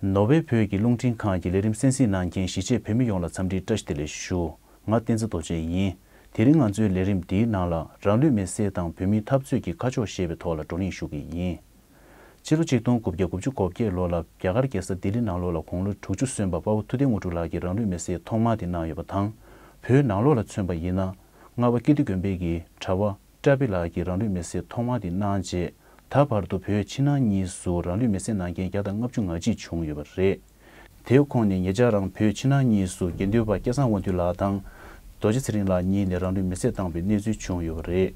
ནོ་བྷེལ་བོད་ཀྱི་རླུང་འཕྲིན་ཁང་གི་ལས་རིམ་གསན་གཟིགས་གནང་མཁན་གཞིས་བྱེས་བོད་མི་ཡོངས་ལ་འཚམས་འདྲིའི་བཀྲ་ཤིས་བདེ་ལེགས་ཞུ། ང་བསྟན་འཛིན་རྡོ་རྗེ་ཡིན། དེ་རིང་ང་ཚོའི་ལས་རིམ་འདིའི་ནང་ལ་རང་ལུས་མེ་བསྲེགས་དང་བོད་མིའི་འཐབ་རྩོད་ཀྱི་ཁ་ཕྱོགས་ཞེས་པའི་ཐོག་ལ་བགྲོ་གླེང་ཞུ་གི་ཡིན། ཕྱི་ལོ་གཅིག་སྟོང་དགུ་བརྒྱ་དགུ་བཅུ་གོ་བརྒྱད་ལོ་ལ་རྒྱ་གར་རྒྱལ་ས་ལྡི་ལི་ནང་ལོགས་ལ་དགུང་ལོ་དྲུག་ཅུ་སོན་པ་དཔའ་བོ་ཐུ་ལྡེ་དངོས་གྲུབ་ལགས་ཀྱིས་རང་ལུས་མེ་བསྲེགས་ཐོག་མ་དེ་གནང་ཡོད་པ་དང། བོད་ནང་ལོགས་ལ་མཚོན་པ་ཡིན་ན། རྔ་བ་ཀིརྟི་དགོན་དཔེ་གྱིས་གྲྭ་བ། བཀྲ་བྷེ་ལགས་ཀྱིས་རང་ལུས་མེར་བསྲེགས་ཐོག་མ་དེ་གནང་རྗེས་ད་བར་དུ་བོད་ཕྱི་ནང་གཉིས་སུ་རང་ལུས་མེར་བསྲེགས་གནང་མཁན་བརྒྱ་དང་ལྔ་བཅུ་ང་གཅིག་བྱུང་ཡོད་པ་རེད། དེའི་ཁོངས་ནས་ངེད་ཅག་རང་བོད་ཕྱི་ནང་གཉིས་སུ་དགེ་འདུན་པ་སྐལ་བཟང་དབང་འདུས་ལགས་དང། རྡོ་རྗེ་ཚེ་རིང་ལགས་གཉིས་ནས་རང་ལུས་མེར་བསྲེགས་བཏང་བའི་གནས་ཚུལ་བྱུང་ཡོད་པ་རེད།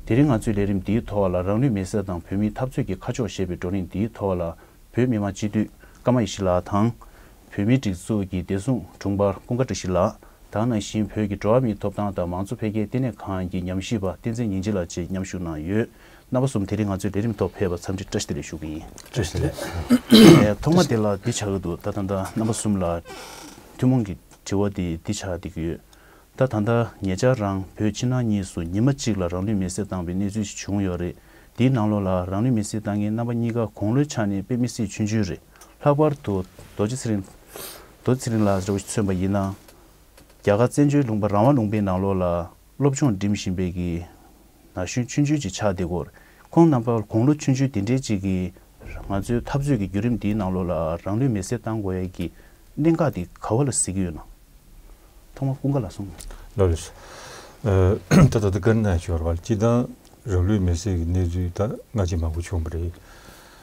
དེ་རིང་ང་ཚོས་ལས་རིམ་འདིའི་ཐོག་ལ་རང་ལུས་མེར་བསྲེགས་དང་བོད་མིའི་འཐབ་རྩོད་ཀྱི་ཁ་ཕྱོགས་ཞེས་པའི་བགྲོ་གླེང་འདིའི་ཐོག་ལ་བོད་མི་མང་སྤྱི་འཐུས་ཀརྨ་ཡེ་ཤེས་ལགས་དང། བོད་མིའི་སྒྲིག་འཛུགས་ཀྱི་བདེ་སྲུང་དྲུང་འཕར་ཀུན་དགའ་བཀྲ་ཤིས་ལགས་དང་ནང་བཞིན་བོད་ཀྱི་འགྲོ་བ་མིའི་ཐོབ་ཐང་དང་མང་གཙོ་འཕེལ་རྒྱས་ལྟེ་གནས་ཁང་གི་ཉམས་ཞིབ་པ་བསྟན་འཛིན་ཉིན་བྱེད་ལགས་བཅས་མཉམ་ཞུགས་གནང་ཡོད། རྣམ་པ་གསུམ་དེ་རིང་ང་ཚོའི་ལས་རིམ་ཐོག་ཕེབས་པར་འཚམས་འདྲི་བཀྲ་ཤིས་བདེ་ལེགས་ཞུ་གི་ཡིན། བཀྲ་ཤིས་བདེ་ལེགས། ཐོག་མ་དེ་ལ་འདི་བྱ་གི་འདུག་ད་ད་ལྟ་རྣམ་པ་གསུམ་ལ་ཐུན་མོང་གི་དྲི་བ་དེ་འདི་ཆགས་བསྡད་ཀྱི་ཡོད། ད་ད་ལྟ་ངེད་ཅག་རང་བོད་ཕྱི་ནང་གཉིས་སུ་ཉི་མ་གཅིག་ལ་རང་ལུས་མེ་བསྲེགས་བཏང་པའི་གནས་ཚུལ་ཞིག་བྱུང་ཡོད་རེད། འདིའི་ནང་ལོགས་ལ་རང་ལུས་མེ་བསྲེགས་བཏང་མཁན་རྣམ་པ་གཉིས་ཀ་དགུང་ལོའི་ཆ་ནས་དཔེ་མི་སྲིད་ཆུང་ཆུང་རེད། ལྷག་པར་དུ་རྡོ་རྗེ་ཚེ་རིང། Dodi Tsering། ལགས་རེ་བ་མཚོན་པ་ཡིན་ན། རྒྱ་གར་བཙན་བྱོལ་ལུང་པ་རང་དབང་ལུང་པའི་ནང་ལོགས་ལ་སློབ་སྦྱོང་འགྲིམས་བཞིན་པའི་གི་ན་གཞོན་ཆུང་ཆུང་ཅིག་ཆགས་འདི་སྐོར་ཁོང་རྣམ་པ་དགུང་ལོ་ཆུང་ཆུང་དེ་འདྲའི་ཅིག་གིས་ང་ཚོའི་འཐབ་རྩོད་ཀྱི་བརྒྱུད་རིམ་འདིའི་ནང་ལོགས་ལ་རང་ལུས་མེ་སྲེག་བཏང་དགོས་ཡས་ཀྱི་གནད་འགག་འདི་ག་བ་ལ་གཟིགས་ཀྱི་ཡོད་ན། ཐོག་མར་ཀུན་དགའ་ལགས་སོང། ལོ་རེ་ཟུ། ད་ལྟ་དཀར་ནག་ཞོར་བར་སྤྱི་བཏང་རང་ལུས་མེ་སྲེག་གི་གནས་ཚུལ་ད་སྔ་ཆེས་མང་པོ་བྱུང་བ་རེད།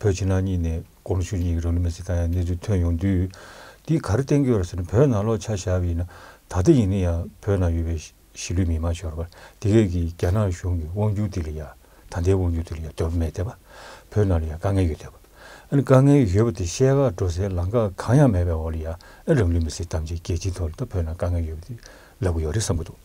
བོད་ཕྱི་ནང་གཉིས་ནས་ཀོ་ལུ་ཤུ་གཉིས་ཀྱི་རང་ལུས་མེར་སྲེག་བཏང་ཡག་གནས་ཚུལ་ཐོན་ཡོང་དུས། འདིས་ག་རེ་བསྟན་རྒྱུ་ཡོད་རེད་ཟེར་ན་བོད་ནང་ལོག་ཆ་བཞག་པའི་ན་ད་ལྟ་ཡིན་ན་ཡང་བོད་ནང་ཡོད་པའི་གཞིས་ལུས་མི་དམངས་ཤོར་བ་དེ་གས་ཀྱིས་རྒྱ་ནག་གཞུང་གི་དབང་བསྒྱུར་དེ་ལ་ཡང་ད་ལྟའི་དབང་བསྒྱུར་དེ་ལ་ཡང་དོད་པོ་མེད་དེ་བ་བོད་ནང་ལ་ཡང་དཀའ་ངལ་ཡོད་དེ་བ་ཨ་ནི་དཀའ་ངལ་ཡོད་པ་དེ་བཤད་ཁག་འགྲོ་སའི་ལམ་ཁ་གང་ཡང་མེད་པའི་འོག་ལ་ཡང་ཨ་རང་ལུས་མེར་སྲེག་ཐམས་ཅད་རྒྱལ་སྤྱིའི་ཐོག་ལ་ད་བོད་ནང་དཀའ་ངལ་ཡོད་པ་དེ་ལབ་གི་ཡོད་རེད་བསམ་གྱི་འདུག།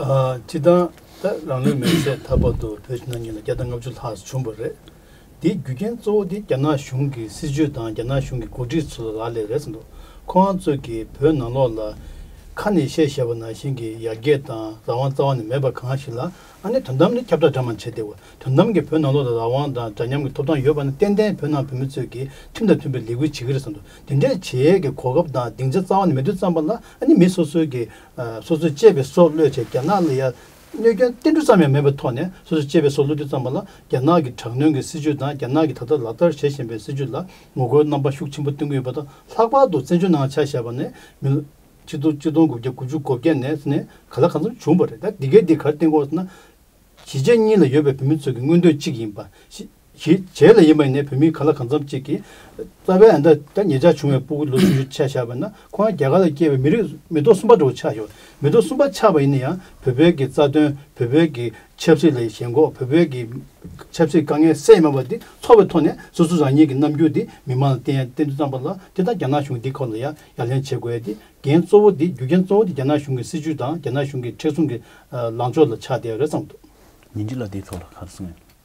སྤྱི་བཏང་ད་རང་ལུས་མེར་བསྲེགས་ཐར་པ་དུ་བོད་ཕྱི་ནང་གཉིས་ལ་བརྒྱ་དང་ལྔ་བཅུ་ལྷག་བྱུང་བ་རེད། དེའི་རྒྱུ་རྐྱེན་གཙོ་བོ་དེ་རྒྱ་ནག་གཞུང་གི་སྲིད་ཇུས་དང་རྒྱ་ནག་གཞུང་གི་འགོ་ཁྲིད་ཚོ་ལ་ལ་ལས་རེད་བསམ་འདུག་ཁོ་རང་ཚོ་གིས་བོད་ནང་ལོགས་ལ་ཁ་ནས་བཤད་བཤད་པ་ནང་བཞིན་གྱི་ཡར་རྒྱས་དང་རང་དབང་རྩ་བ་ནས་མེད་པ་གང་ཞིག་ལ་ཨ་ནེ་དོན་དམ་ནས་ཁྱབ་བསྒྲགས་འདྲ་མང་བྱས་ཏེ་དོན་དམ་གྱི་བོད་ནང་ལོགས་ལ་རང་དབང་དང་འདྲ་མཉམ་གྱི་ཐོབ་ཐང་ཡོད་པ་ནི་ཏན་ཏན་བོད་ནང་བོད་མི་ཚོས་ཀྱིས་ཁྲིམས་དང་མཐུན་པའི་ལས་འགུལ་བྱེད་ཀྱི་རེད་བསམ་འདུག་དེ་འདྲའི་བྱེད་ཡས་ཀྱི་གོ་སྐབས་དང་སྡིངས་ཆ་རྩ་བ་ནས་མེད་དུས་བརྩམས་པ་ལ་ཨ་ནེ་མི་སོ་སོའི་གྱི་སོ་སོས་གཅེས་པའི་སྲོག་བློས་བྱས་རྒྱ་ནག་ལ་ཡ་གནོད་སྐྱོན་བསྟན་འགྲོ་ཙམ་ཡང་མེད་པའི་ཐོག་ནས་སོ་སོས་གཅེས་པའི་སྲོག་བློས་རྒྱུ་ཙམ་པ་ལ་རྒྱ་ནག་གི་དྲག་གནོན་གྱི་སྲིད་བྱུས་དང་རྒྱ་ནག་གིས་ད་ལྟ་ལག་བསྟར་བྱེད་བཞིན་པའི་སྲིད་བྱུས་ལ་ངོ་རྒོལ་རྣམ་པ་ཤུགས་ཆེན་པོ་བསྟན་གྱི་ཡོད་པ་དང་ལྷག་པར་དུ་བཙན་བྱོལ་ནང་ཆ་བཞག་པ་ནས་མི་ལོ། གཅིག་སྟོང་གཅིག་སྟོང་དགུ་བརྒྱ་དགུ་བཅུ་གོ་བརྒྱད་ནས་ནས་ག་ལ་གང་འཚམ་བྱུང་བ་རེད་ད་འདི་གའི་འདི་གར་བསྟན་དགོས་ཟེར་ན། གཞིས་བྱེས་གཉིས་ལ་ཡོད་པའི་བོད་མི་ཚོ་གི་མངོན་འདོད་གཅིག་ཡིན་པ་ཤེས། གྱིས་བྱས་ལ་ཡིན་པ་ཡིན་ནའི་བོད་མི་ག་ལ་གང་འཚམ་ཅིག་གིས་རྩ་བའི་ཨ་མདའ་ད་ངེད་ཅག་བྱུང་བའི་སྤོ་བོ་ལོ་བཅུ་བཞི་ཆགས་བཞག་པ་ན་ཁོང་རང་རྒྱ་གར་ལ་སྐྱེས་པའི་མི་རིགས་མི་ཐོག་གསུམ་པ་འགྲོ་བ་ཆགས་ཡོད་མི་ཐོག་གསུམ་པ་ཆགས་པ་ཡིན་ན་ཡང་བོད་བོད་ཀྱི་རྩ་དོན་བོད་བོད་ཀྱི་ཆབ་སྲིད་ལས་ཞེན་འགོག་བོད་བོད་ཀྱི་ཆབ་སྲིད་དཀའ་ངལ་སེལ་མེད་པ་འདི་ཚོར་བའི་ཐོག་ནས་སོ་སོ་རང་ཉིད་ཀྱི་རྣམ་འགྱུར་འདི་མི་མང་ལ་བསྟན་ཡ་བསྟན་དུ་བཏང་པ་ལ་དེ་དང་རྒྱ་ནག་གཞུང་འདི་ཁོ་ལ་ཡ་ཡ་ལན་བྱེད་དགོས་ཏེ་འགན་གཙོ་བོ་འདི་རྒྱུ་རྐྱེན་གཙོ་བོ་འདི་རྒྱ་ནག་གཞུང་གི་སྲིད་ཇུས་དང་རྒྱ་ནག་གཞུང་གི་མཁྲེགས་བཟུང་གི་ལངས་ཕྱོགས་ལ་ཆགས་བསྡད་ཡོད་རེད་བསམ་འདུག། ཉིན་གཅིག་ལ་དེའི་ཐོག་ལ་ག་རེ་གསུང་ཡོད།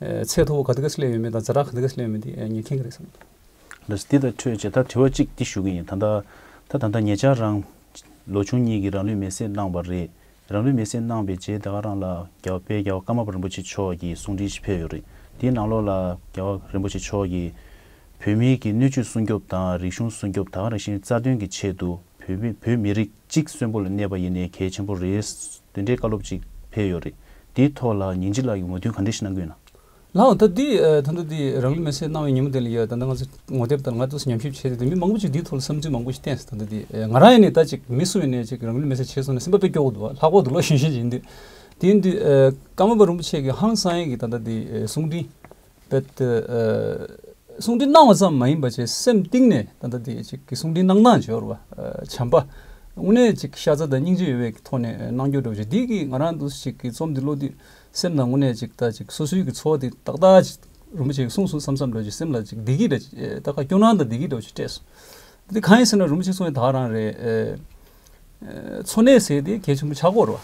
ཚད་མཐོ་བོ་ག་དུས་ག་སྲིད་ལས་ཡོད་མེད་དང་རྫ་དྲག་ག་དུས་ག་སྲིད་ལས་ཡོད་མེད་དེ་ཉན་མཁན་ག་རེད་བསམ། ལ་སི་འདི་དང་འཕྲོད་ཅེས་ད་དྲི་བ་གཅིག་འདི་ཞུ་གི་ཡིན་ད་ད་ད་ད་ངེད་ཅག་རང། ལོ་ཆུང་གཉིས་ཀྱིས་རང་ལུས་མེ་བསྲེགས་གནང་བ་རེད་རང་ལུས་མེ་བསྲེགས་གནང་པའི་རྗེས་ད་ག་རང་ལ་རྒྱ་བོད་རྒྱ་བ་ཀརྨ་པ་རིན་པོ་ཆེ་མཆོག་གིས་གསུང་འཕྲིན་ཞིག་ཕེབས་ཡོད་རེད་དེའི་ནང་ལོགས་ལ་རྒྱ་བ་རིན་པོ་ཆེ་མཆོག་གིས། བོད་མིའི་གི་སྣོད་བཅུད་སྲུང་སྐྱོབ་དང་རིག་གཞུང་སྲུང་སྐྱོབ་ད་ག་རང་བཞིན་རྩ་དོན་གྱི་ཆེད་དུ་བོད་མི་བོད་མི་རིགས་གཅིག་གསོན་པོ་ལ་གནས་པ་ཡིན་ནས་གལ་ཆེན་པོ་རེད། དེ་འདྲའི་བཀའ་སློབ་ཅིག་ཕེབས་ཡོད་རེད། དེའི་ཐོག་ལ་ཉིན་གཅིག་ལ་ངོས་དོན་ག་འདྲའི་ཞིག་གནང་དགོས་ན། ལགས། ད་ལྟའི་ཐ་ན་དེ་རང་ལུས་མེ་སྲེག་གནང་བའི་ཉིན་མོ་དེ་ལ་ཡོད་ད་ལྟ་ང་ཚོས་ངོ་དེབ་ལྟར་ང་ཚོས་ཉམས་ཞིབ་བྱས་ཏེ་དེ་མི་མང་པོ་ཅིག་དེའི་ཐོག་ལ་བསམ་ཚུལ་མང་པོ་ཞིག་བསྟན་སྲིད་ད་ལྟ་དེ་ང་རང་ཡིན་ནས་ད་ཅིག་མི་སུ་ཡིན་ནས་ཅིག་རང་ལུས་མེ་སྲེག་བྱས་སོང་ནས་སེམས་པ་དཔེ་སྐྱོ་བོ་འདུག་ལྷག་པར་དུ་ལོ་གཞོན་ཤེས་ཅིག་ཡིན་དུས་དེ་ཡིན་དུས་ཀརྨ་པ་རིན་པོ་ཆེ་གི་ཧང་སང་ཡིག་གི་ད་ལྟ་དེ་གསུང་འཕྲིན་པའི་དེ། གསུང་འཕྲིན་གནང་བ་ཙམ་མ་ཡིན་པ་ཅེས་སེམས་གཏིང་ནས་ད་ལྟ་དེ་གཅིག་གི་གསུང་འཕྲིན་གནང་སྟངས་ཇོ་བོ་བྱམས་པ་དངོས་གནས་གཅིག་ཤ་ཚ་དང་སྙིང་རྗེ་ཡོད་པའི་ཐོག་ནས་གནང་རྒྱུར་སྒྲོག་ཅིག་དེ་གིས་ང་རང་དུ་ཞིག་གི་རྩོམ་འདི་ཀློག་དུས་སེམས་ནང་དངོས་གནས་གཅིག་ད་ཅིག་སོ་སོའི་གི་འཚོ་བ་དེ་ཏག་ཏག་ཅིག་རིན་པོ་ཆེ་གི་གསུང་སུ་བསམ་བསམ་སྒྲོག་ཅིག་སེམས་ལ་ཅིག་བདེ་སྐྱིད་འདྲ་ཅིག་ཏག་ཏག་སྐྱོ་སྣང་དང་བདེ་སྐྱིད་འདྲ་བོ་ཅིག་སྤྲད་སོང། དེ་གང་ཡིན་ཟེར་ན་རིན་པོ་ཆེ་གསུང་བའི་དག་རང་རེད། འཚོ་གནས་ཟེར་དེ་གལ་ཆེན་པོ་ཆགས་སྐོར་བ།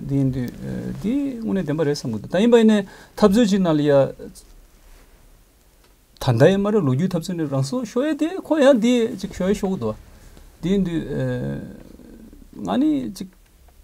འདི་ཡིན་དུས་འདི་དངོས་གནས་བདེན་པ་རེད་བསམ་གི་འདུག་ད་ཡིན་པ་ཡིན་ནའི་འཐབ་རྩོད་ཅིག་གནང་ལ་ཡ། ད་ལྟ་ཡི་མ་རེད་ལོ་རྒྱུས་འཐབ་རྩོད་ནི་རང་སོ་ཤོ་ཡེ་དེ་ཁོ་ཡང་དེ་ཅིག་ཤོ་ཡེ་ཤོ་གི་འདུག་བ། འདི་ཡིན་དུས། ང་ནི་ཅིག།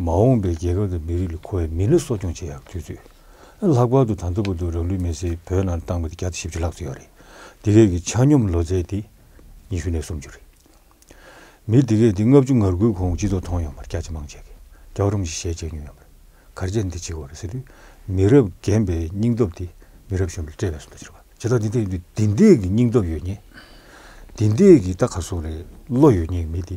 མ་འོངས་པའི་རྒྱལ་ཁབ་དང་མི་རིགས་ལ་མཁོ་བའི་མི་སྣ་གསོ་སྐྱོང་བྱེད་ཡག་དུས་ཚོད། ལྷག་པར་དུ་ད་ལྟ་བར་དུ་རང་ལུས་མེར་སྲེག་བོད་ནང་བཏང་བ་དེ་བརྒྱ་དང་བཞི་བཅུ་ལྷག་ཙམ་ཡོད་རེད། འདི་གའི་གི་ཆ་སྙོམས་ལོ་ཚད་དེ་ཉི་ཤུ་ནས་སུམ་ཅུ་རེད། མི་འདི་གའི་དེ་ལྔ་བཅུ་ངར་དགུའི་གོང་སྤྱི་ཚོགས་མཐོང་ཡོང་པར་སྐྱག་ཅི་མང་བྱས་གི་སྐྱག་རོམ་ཞིག་ཞལ་བཅད་མྱོང་ཡོང་པ་རེད། གར་བྱས་འདི་བྱས་འོ་རེད་ཟེར་དུས་མི་རབས་རྒན་པའི་སྙིང་སྟོབས་དེ་མི་རབས་གཞོན་པ་ལ་སྤྲད་པའི་སུ་འདུག་ཟེར་བ་ཇི་ལྟར་འདི་འདྲ་ཡིན་དུས་འདི་འདྲས་ཀྱི་སྙིང་སྟོབས་ཡོད་ངེས། འདི་འདྲས་ཀྱི་ལྟ་ག་སོགས་རེད་བློ་ཡོད་ངེས་མི་དེ་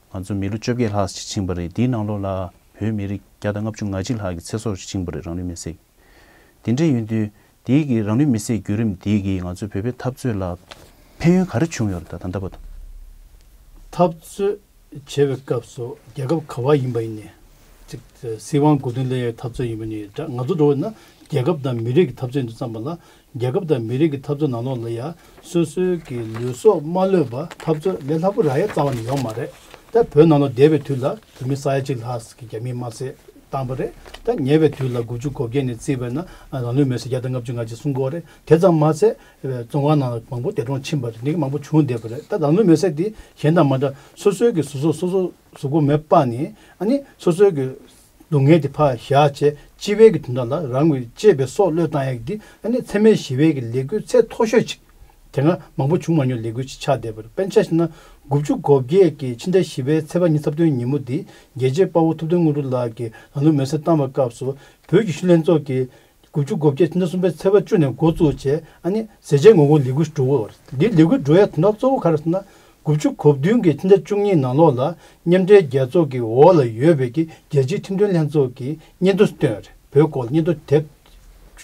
ང་ཚོ་མི་ལོ་བཅོ་བརྒྱད་ལྷག་ཅིག་ཕྱིན་པ་རེད་དེའི་ནང་ལོགས་ལ་བོད་མི་རིགས་བརྒྱ་དང་ལྔ་བཅུ་ང་གཅིག་ལྷག་གི་ཚེ་སྲོག་ཅིག་ཕྱིན་པ་རེད་རང་ལུས་མེ་བསྲེགས་དེ་འདྲས་ཡོད་དུས་དེའི་གི་རང་ལུས་མེ་བསྲེགས་བརྒྱུད་རིམ་དེའི་གི་ང་ཚོའི་བོད་པའི་འཐབ་རྩོད་ལ་ཕན་ཡོན་ག་རེ་བྱུང་ཡོད་རེད་ད་ལྟ་བར་དུ། འཐབ་རྩོད་བྱེད་པའི་སྐབས་སུ་རྒྱལ་ཁབ་ག་བ་ཡིན་པ་ཡིན་ནས་ཅིག་སྲིད་དབང་དགོས་དོན་སླད་འཐབ་རྩོད་ཡིན་པ་ནི་འདྲ་ང་ཚོ་འགྲོ་བ་ནི་རྒྱལ་ཁབ་དང་མི་རིགས་ཀྱི་འཐབ་རྩོད་འདི་ཙམ་པ་ལ་རྒྱལ་ཁབ་དང་མི་རིགས་ཀྱི་འཐབ་རྩོད་ནང་ལོགས་ལ་ཡང་སོ་སོའི་གི་ལུས་སྲོག་མ་ལོས་པ་འཐབ་རྩོད་ལས་སླ་པོ་རག་ཡ་རྩ་བ་ནས་ཡོག་མ་རེད་ད་བོད་ནང་ལོགས་བསྡད་པའི་དུས་ལ་བོད་མི་ས་ཡ་གཅིག་ལྷགས་གི་རྒྱ་མིས་དམར་བསད་བཏང་བ་རེད་ད་ཉེ་བའི་དུས་ལ་དགུ་བཅུ་གོ་བརྒྱད་ནས་བརྩིས་པ་ན་རང་ལུས་མེར་སྲེག་བརྒྱ་དང་ལྔ་བཅུ་ང་གཅིག་སྲུང་འཁོར་རེད་དེ་ཙམ་མ་ཚད་བཙོན་ཁང་ནང་ལ་མང་པོ་འདས་གྲོངས་ཕྱིན་པ་རེད་འདི་གི་མང་པོ་བྱུང་བསྡད་པ་རེད་ད་རང་ལུས་མེར་སྲེག་དེ་གཞན་དང་མ་འདྲ་སོ་སོའི་གི་ཟུར་སྲོག་སོ་སོ་གཟུགས་པོ་མེད་པ་ནི་ཨ་ནི་སོ་སོའི་གི། སྡུག་བསྔལ་གྱི་བག་ཞག་བཅས་ལྕི་བས་ཀྱི་དོན་དག་ལ་རང་གི་གཅེས་པའི་སྲོག་བློས་བཏང་ཡག་འདི་ཨ་ནེ་ཚད་མའི་ཞི་བས་ཀྱི་ལས་འགུལ་ཚད་མཐོ་ཤོས་ཅིག་དེ་སྔ་མང་པོ་བྱུང་མ་མྱོང་ལས་འགུལ་ཅིག་ཆགས་བསྡད་པར་དཔེ་ཆ་ཞིག་ན་དགུ་བཅུ་གོ་བརྒྱད་ཀྱི་ཕྱི་ཟླ་བཞི་བའི་ཚེས་པ་ཉིན་ཚབ་དོན་ཉིན་མོ་འདི་རྒྱལ་གཅེས་དཔའ་བོ་ཐུབ་བསྟན་དངོས་གྲུབ་ལགས་ཀྱིས་ལམ་ལུགས་མེར་སྲེག་བཏང་བའི་སྐབས་སུ་བོད་ཀྱི་ཤུལ་ལྷན་ཚོགས་ཀྱི་དགུ་བཅུ་གོ་བརྒྱད་ཕྱི་ཟླ་གསུམ་པའི་ཚེས་པ་བཅུ་ནས་འགོ་བཙུགས་རྗེས་ཨ་ནེ་ཟེ་ཆེན་ངོ་གུང་ལི་གུ་འབྲུག་བར་འདིར་ལི་གུ་འབྲུག་ཡ་དོན་དག་གཙོ་བོ་ག་རེ་ཟེར་ན་དགུ་བཅུ་གོ་བདུན་གྱི་ཕྱི་ཟླ་བཅུ་གཉིས་ནང་ལོགས་ལ་མཉམ་འབྲེལ་རྒྱལ་ཚོགས་ཀྱི་འོག་ལ་ཡོད་པའི་གི་རྒྱལ་སྤྱིའི་ཁྲིམས་དོན་ལྷན་ཚོགས་ཀྱི་སྙན་ཐོ་བཏོན་རེད་བོད་སྐོར་སྙན་ཐོ་དེབ་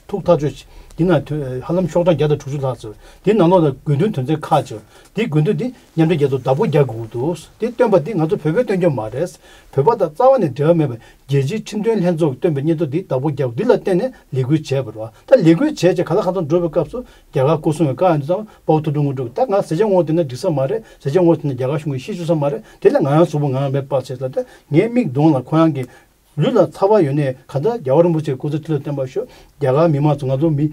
ཐུག་ཐག་གཅོད་བྱས་འདི་ནང་དོན་ཧ་ལམ་ཤོག་གྲངས་བརྒྱ་དང་དྲུག་ཅུ་ལྷག་ཚུད་འདིའི་ནང་ལོགས་ལ་དགོས་འདུན་དོན་ཚན་ཁག་བཅུ་འདི་དགོས་འདུན་འདི་མཉམ་འབྲེལ་རྒྱལ་ཚོགས་བདག་པོ་རྒྱག་དགོས་འདུག་འདི་བཏོན་པ་འདི་ང་ཚོ་བོད་པས་བཏོན་རྒྱུ་མ་རེད་བོད་པ་དང་རྩ་བ་ནས་འབྲེལ་བ་མེད་པ་རྒྱལ་སྤྱིའི་ཁྲིམས་དོན་ལྷན་ཚོགས་ཀྱིས་བཏོན་པའི་སྙན་ཐོ་འདི་བདག་པོ་རྒྱག་རྒྱུ་ལ་བརྟེན་ནས་ལས་འགུལ་བྱས་པ་རེད། ད་ལས་འགུལ་བྱས་བྱས་ག་ལ་ག་ཚོད་འགྲོ་བའི་སྐབས་སུ་རྒྱ་གར་སྐུ་སྲུང་བའི་བཀའ་ཡང་འདུག་ཙམ་དཔའ་བོ་ཐུགས་སྤྲོ་དངོས་སྒྲུབ་ཀྱི་ད་ང་བཟས་བྱ་ངོ་དེ་ནས་འགྲིག་ས་མ་རེད་བཟས་བྱ་ངོ་དེ་ནས་རྒྱ་གར་གཞུང་གིས་ཤེས་བཅུག་ས་མ་རེད་དེ་ལས་ང་ཡང་གཟུགས་པོ་ངང་མེད་པར་བྱས་ལ་ད་ངའི་མིག་མདུང་ལ་ཁོ་རང་གི་ལུས་ལ་ཚ་བ་ཡོད་ནའི་ག་ད་རྒྱ་བ་རིན་པོ་ཆེ་སྐུ་ཚེ་ཐུགས་ལ་བརྟན་པར་ཤོག་རྒྱ་གར་མི་མང་ཚོ་ང་ཚོ་མི་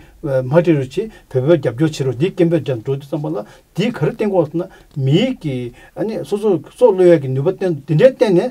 མ་ཧྲི་རུ་ཆིས་བོད་པའི་རྒྱབ་སྐྱོར་བྱེད་རོགས་འདིའི་སྐད་འབོད་རྒྱག་འགྲོ་འདུག་ཙམ་པ་ལ་འདིའི་ག་རེ་བསྟན་དགོངས་ཟེར་ན་མིའི་གི་ཨ་ནི་སོ་སོ་སོ་བློས་ཡས་ཀྱི་ནུས་པ་བསྟན་འདི་འདྲའི་བསྟན་ནས་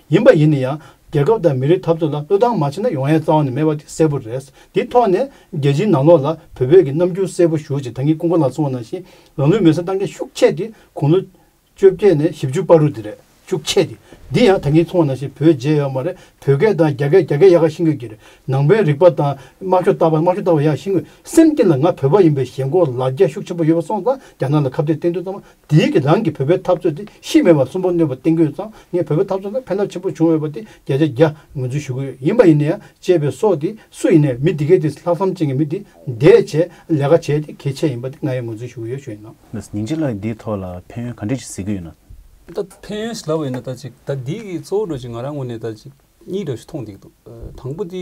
ཡིན་པ་ཡིན་ན་ཡང་རྒྱལ་ཁབ་དང་མི་རིགས་འཐབ་རྩོད་ལ་བློས་བཏང་མ་བྱས་ན་ཡོང་ཡ་རྩ་བ་ནས་མེད་པ་དེ་གསལ་པོ་རེད། དེ་ཐོག་ནས་རྒྱལ་སྤྱིའི་ནང་ལོགས་ལ་བོད་བོད་ཀྱི་རྣམ་འགྱུར་གསལ་པོ་ཞུ་ཅིག་ད་ངས་ཀུན་དགའ་ལགས་གསུངས་བ་ནང་བཞིན་རང་ལུས་མེར་སྲེག་བཏང་མཁན་ཤུགས་ཆེ་དེ་དགུང་ལོ། བཅོ་བརྒྱད་ནས་བཞི་བཅུ་པར་རུ་དེ་རེད་ཤུགས་ཆེ་དེ། འདི་ཡང་ད་ངས་གསུངས་བ་ནང་བཞིན་བོད་རྗེས་ཡོད་མ་རེད་བོད་སྐད་དང་རྒྱ་སྐད་རྒྱ་སྐད་ཡག་ག་ཤི་འགོས་ཀྱི་རེད་ནང་པའི་རིག་པ་དང་དམག་ཤོག་བཏགས་པ་དམག་ཤོག་བཏགས་པ་ཡག་ཤི་འགོས་སེམས་ཀྱི་ལ་ང་བོད་པ་ཡིན་པའི་ཞེན་ཁོག་ལ་རྒྱ་ཤུགས་ཆེན་པོ་ཡོད་པ་སོང་ཙང་རྒྱ་ནག་ལ་ཁ་བརྡའི་སྟེང་དུ་ཙང་མ་དེའི་གི་རང་གི་བོད་པའི་འཐབ་རྩོད་དེ་ཤི་མེད་པ་གསུམ་པོ་གནོད་པ་གཏིང་དགོས་ཙང་ངས་བོད་པའི་འཐབ་རྩོད་ལ་ཕན་རླབས་ཆེན་པོ་བྱུང་འོས་པ་དེ་བརྒྱ་ཆ་བརྒྱ་ངོས་འཛུན་ཞུ་གི་ཡོད་ཡིན་པ་ཡིན་ན་ཡང་གཅེས་པའི་སྲོག་དེ་སུ་ཡིན་ནའི་མི་འདི་གས་དེ་ལྷག་བསམ་ཅན་གྱི་མི་དེ་འདས་བྱས་ལས་ཀ་བྱས་དེ་གལ་ཆེ་ཡིན་པ་དེ་ང་ཡང་ངོས་འཛུན་ཞུ་གི་ཡོད་ཞུ་ཡིན་ནམ། ན་ཉིང་ཅིག་ལགས་འདིའི་ཐོག་ལ་ཕན་ཡོན་ག་འདྲས་ཅིག་གཟིགས་ཀྱི་ཡོད་ན། ད་ཕན་ཡོན་ཞིག་ལབ་ཡོད་ན་ད་ཅིག་ད་འདིའི་གི་གཙོ་བོ་འགྲོ་ཅིག་ང་རང་ངོས་ནས་ད་ཅིག་གཉིས་འདྲ་ཞིག་མཐོང་འདུག་དང་པོ་དེ།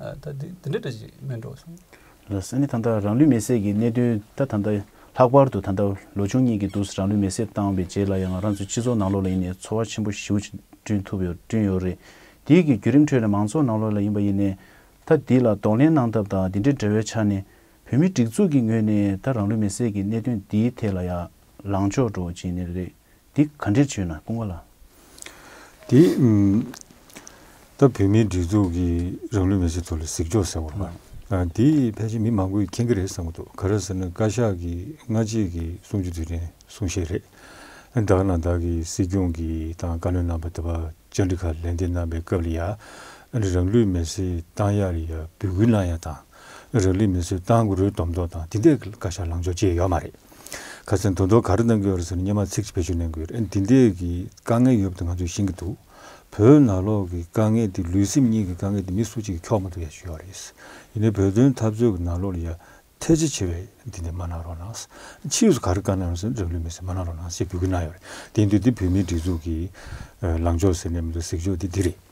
ད་དེ་འདི་འདྲ་འདྲ་ཞིག་སྨྲས་འགྲོ་གསུངས། ལ་ས་ནི་ད་ལྟ་རང་ལུས་མེ་བསྲེགས་ཀྱི་གནད་དོན་ད་ད་ལྟ་ལྷག་པར་དུ་ད་ལྟ་ལོ་ཆུང་གཉིས་ཀྱི་དུས་སུ་རང་ལུས་མེ་བསྲེགས་བཏང་བའི་རྗེས་ལ་ཡང་རང་ཚོའི་སྤྱི་ཚོགས་ནང་ལོགས་ལ་ཡིན་ནས་འཚོ་བ་ཆེན་པོ་ཞིའུ་བསྐྲུན་ཐུབ་ཡོད་བསྐྲུན་ཡོད་རེད། དེའི་གི་བརྒྱུད་རིམ་ཁྲོད་ལ་མང་ཚོགས་ནང་ལོགས་ལ་ཡིན་པ་ཡིན་ནས་ད་འདི་ལ་གདོང་ལེན་གནང་ཐབས་དང་འདི་འདྲའི་འབྲེལ་བའི་ཆ་ནས་བོད་མི་སྒྲིག་འཛུགས་ཀྱི་ངོས་ནས་ད་རང་ལུས་མེ་བསྲེགས་ཀྱི་གནད་དོན་འདིའི་ཐད་ལ་ཡ་ལང་ཕྱོགས་འགྲོ་བ་ཅི་ནས་རེད། འདི་ག་འདྲིར་བྱོས་ན་དཔུང་བ་ལ། དེ་ད་བོད་མིའི་སྒྲིག་འཛུགས་ཀྱི་རང་ལུས་མེ་ལྕེ་ཐོག་ལ་གཟིགས་ཆོག་ཟེར་བ་ལ། དེ་ཕལ་ཆེར་མི་མང་པོས་མཁྱེན་གྱི་རེད་བསམ་གྱི་འདུག་ག་རེད་ཟེར་ན་བཀའ་ཤག་གི་སྔ་རྗེས་ཀྱི་གསུང་ཆོས་དུས་དྲན་གསུང་བཤད་རེད། བདག་ནང་བདག་གི་སྲིད་སྐྱོང་གི་དང་བཀའ་བློན་རྣམ་པ་ད་བར་བཅར་འདྲི་ཁ་ལན་འདེབས་གནང་པའི་སྐབས་ལ་ཡང། རང་ལུས་མེ་ལྕེ་བཏང་ཡག་རེད་ཡ་འབོད་སྐུལ་གནང་ཡག་དང། རག་ལས་མི་བཟོད་ཏང་གི་རུས་སྡོམ་འདོགས་དང་དེ་འདས་ཀྱི་བཀའ་ཤག་ལངས་ཕྱོགས་བཅས་ཡོད་མ་རེད། ཁ་སང་དོན་དོ་ག་རེ་གནང་གི་ཡོད་རེད་ཟེར་ནས་སྙན་མ་ཚིག་གཅིག་བེད་སྤྱོད་གནང་གི་ཡོད་རེད་འདི་འདས་ཀྱི་དཀའ་ངལ་ཡོད་པ་དེ་ང་ཚོས་ཤེས་ཀྱི་འདུག་བོད་ནང་ལོག་གི་དཀའ་ངལ་དེ་ལུས་སེམས་གཉིས་ཀྱི་དཀའ་ངལ་དེ་མི་སུ་གཅིག་གི་འཁྱོག་མ་ཐུབ་ཡ་ཞུ་ཡོད་རེད། ཡིན་ནའི་བོད་དོན་འཐབ་རྩོད་ཀྱི་ནང་ལོག་ལ་ཡ་ཐེ་ཚེ་ཆེ་བས་འདི་འདས་མ་གནང་རོགས་གནང། ཕྱིས་སུ་ག་རེ་བཀའ་གནང་ཡོང་ཟེར་ན་རག་ལུས་མི་བཟོད་མ་གནང་རོགས་གནང་ཞེས་འབོད་སྐུལ་གནང་ཡོད་རེད་དེ་འདུག་འདི་བོད་མིའི་སྒྲིག་འཛུགས་ཀྱི་ལངས་ཕྱོགས་ཟེར་ནས་མི་འདུག་གཟིགས་ཕྱོགས་དེ་འདི་རེད།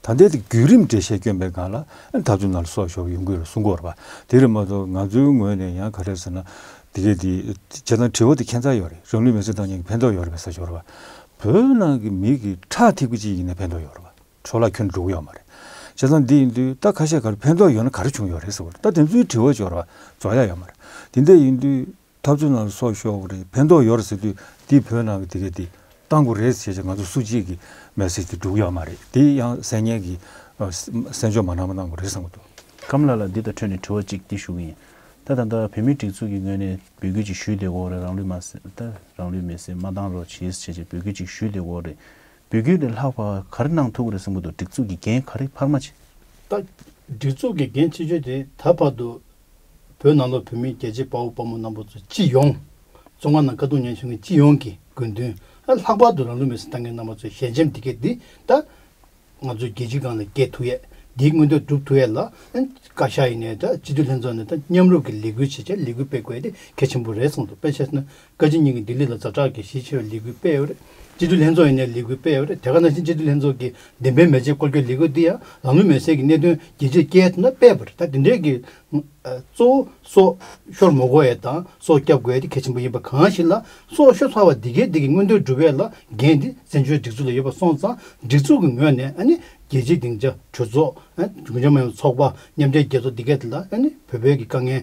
ད་ལྟའི་བརྒྱུད་རིམ་འགྲེལ་བཤད་སྐྱོན་པའི་སྒང་ལ་ད་གཟོད་ན་ལ་སོགས་ཞོགས་པ་ཡོང་གི་རེད་གསུང་གོ་རེ། དེ་ལས་མ་གཏོགས་ང་ཚོའི་ངོས་ནས་ཡང་ག་རེ་ཟེར་ན། དེ་གས་དེ། བྱེད་སྟངས་དྲི་བ་དེ་ཁྱད་མཚར་ཡོད་རེད་རང་ལུས་མེར་སྲེག་བཏང་ཉིན་གྱི་ཕན་ཐོགས་ཡོད་རེད་པའི་ས་ཞོར། བོད་ནང་གི་མི་གི་ཁྲག་ཐིགས་པ་ཅིག་ཡིན་ན་ཕན་ཐོགས་ཡོད་རེད། འཕྲོ་བརླག་ཁྱོན་དུ་འགྲོ་གི་ཡོད་མ་རེད། བྱེད་སྟངས་འདི་ཡིན་དུས་ད་ཁ་ཤས་ག་རེ་ཕན་ཐོགས་ཡོད་ན་ག་རེ་བྱུང་ཡོད་རེད་ཟེར་གོ་རེ་ད་དེ་ཚོའི་དྲི་བ་ཞོར། རྫོགས་ཡག་ཡོད་མ་རེད། དེ་འད་ཡིན་དུས། འཐབ་རྩོད་ནང་ལ་སོགས་ཤོག་གི་རེད་ཕན་ཐོག་ཡོད་རེད་ཟེར་དུས་འདིས་བོད་ནང་གི་དེ་གས་དེ་གཏང་གོ་རེད་ཟེར་བྱས་ང་ཚོ་སུ་གཅིག་གི་མེ་སེར་དེ་འགྲུག་ཡོད་མ་རེད་དེ་ཡང་གསལ་ཉན་གི་གསན་འཇོག་མ་གནང་མ་གནང་གོ་རེད་བསམ་གི་འདུག། ཁམས་ལགས་ལ་འདི་དང་འཕྲོས་ནས་དྲི་བ་གཅིག་དེ་ཞུ་གི་ཡིན། ད་ད་ལྟ་བོད་མིའི་སྒྲིག་འཛུགས་ཀྱི་ངོས་ནས་འབོད་སྐུལ་ཅིག་ཞུས་དེ་འོག་རེད་རང་ལུས་མ་ཟད་རང་ལུས་མེ་སེར་མ་གཏང་རོགས་གྱིས་བྱས་བྱས་འབོད་སྐུལ་ཅིག་ཞུས་དེ་འོག་རེད། འབོད་སྐུལ་ལས་ལྷག་པ་ག་རེ་གནང་ཐུབ་གི་རེད་བསམ་གི་འདུག་སྒྲིག་འཛུགས་ཀྱི་འགན་ག་རེ་འཕར་མ་བྱས། ད། སྒྲིག་འཛུགས་ཀྱི་འགན་ཆེ་ཤོས་དེ་ད་བར་དུ་བོད་ནང་ལོགས་བོད་མི་རྒྱལ་གཅེས་དཔའ་བོ་དཔའ་མོ་རྣམ་པོ་ཚོ་སྤྱི་ཡོངས། ཙོང་ཁ་ནང་དཀའ་སྡུག་མཉན་བཞིན་མཁན་སྤྱི་ཡོངས་ཀྱི་དགོས་འདུན། ལྷག་པར་དུ་རང་ལུས་མེར་སྲེག་བཏང་མཁན་རྣམ་པ་ཚོའི་ཞལ་ཆེམས་འདི་གས་འདི་ལྟ། ང་ཚོའི་རྒྱལ་སྤྱི་གང་ལ་སྐྱེལ་ཐུག་ཡས་འདིའི་མངོན་འདོད་སྒྲུབ་ཐུག་ཡས་ལ། བཀའ་ཤག་ཡིན་ནས་སྤྱི་འཐུས་ལྷན་ཚོགས་ནས་མཉམ་རུབ་ཀྱི་ལས་འགུལ་བྱེད་ཆེད་ལས་འགུལ་སྤེལ་དགོས་ཡས་དེ་གལ་ཆེན་པོ་རེད་གསུངས་འདུག་དཔེ་བྱས་ན་བཀའ་སྤྱི་གཉིས་ཀྱིས་ལྡི་ལི་དང་ཛབ་ཀྲག་གི་གཞིས་བྱེས་པའི་ལས་འགུལ་སྤེལ་བར། སྤྱི་འཐུས་ལྷན་ཚོགས་ཡིན་ནའི་ལས་འགུལ་སྤེལ་བར་དེ་ག་ནང་བཞིན་སྤྱི་འཐུས་ལྷན་ཚོགས་ཀྱི་བདེན་དཔེ་མེ་ལྕེ་སྐོར་སྐྱོད་ལས་འགུལ་འདི་ཡང་ལམ་ལུགས་མེད་གསལ་གྱི་གནད་དོན་རྒྱལ་སྤྱིར་བསྐྱལ་ཐུབ་ན་སྤེལ་བར་ད་དེ་འབྲེལ་གྱི། གཙོ་བོ་སོག་ཤོར་མོ་གོ་ཨེ་དང་སོག་སྐྱབས་དགོས་ཨེ་དེ་གལ་ཆེན་པོ་ཡིན་པ་གང་ཞིག་ལ་སོག་ཤོར་ཚར་བ་འདི་གའི་འདི་གི་མངོན་འདོད་སྒྲུབ་བས་ལ་འགན་འདི་བཙན་བྱོལ་སྒྲིག་འཛུགས་ལ་ཡོད་པ་སོང་ཙང་སྒྲིག་འཛུགས་ཀྱི་ངོས་ནས་ཨ་ནི་རྒྱལ་སྤྱིའི་སྡིངས་ཆ་གྲོས་ཚོགས། རྒྱུན་ལྗོངས་མི་དམངས་ཚོགས་པ་མཉམ་འབྲེལ་རྒྱལ་ཚོགས་འདི་གའི་ལ་ཨ་ནི་བོད་བོད་ཀྱི་དཀའ་ངལ་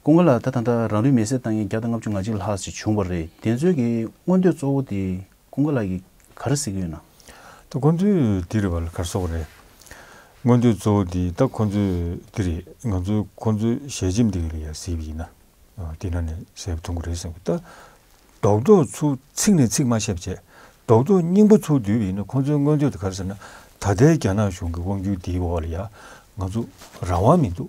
སྐུ་ངལ་ལ་ད་ད་ལྟ་རང་རིགས་མེ་སྲེག་བཏང་ཉིན་བརྒྱ་དང་ལྔ་བཅུ་ང་གཅིག་ལྷག་ཅིག་བྱུང་བ་རེད་དེ་ཚོའི་གི་མངོན་འདོད་གཙོ་བོ་དེ་སྐུ་ངལ་ལ་གི་ག་རེ་ཟེར་གི་ཡོད་ན། ད་ཁོ་ཚོའི་དེ་རེད་བ་ལ་གར་སོང་བ་རེད། མངོན་འདོད་གཙོ་བོ་དེ་ད་ཁོ་ཚོའི་དེ་རེད་ང་ཚོའི་ཁོ་ཚོའི་ཞལ་ཆེམས་དེ་ག་རེ་ཡ་ཟེར་བ་ཡིན་ན། དེ་ན་ནས་ཟེར་བ་ཐུང་ག་རེད་བསམ་གི་ད། རྡོག་རྡོག་ཚུ་ཚིག་ནས་ཚིག་མ་བཤད་བྱས་རྡོག་རྡོག་སྙིང་པོ་ཚུ་བསྡུས་བ་ཡིན་ན་ཁོ་ཚོའི་མངོན་འདོད་དེ་ག་རེ་ཟེར་ན་ད་ལྟའི་རྒྱ་ནག་གཞུང་གི་དབང་བསྒྱུར་དེའི་འོག་ལ་ཡ་ང་ཚོ་རང་དབང་མི་འདུག་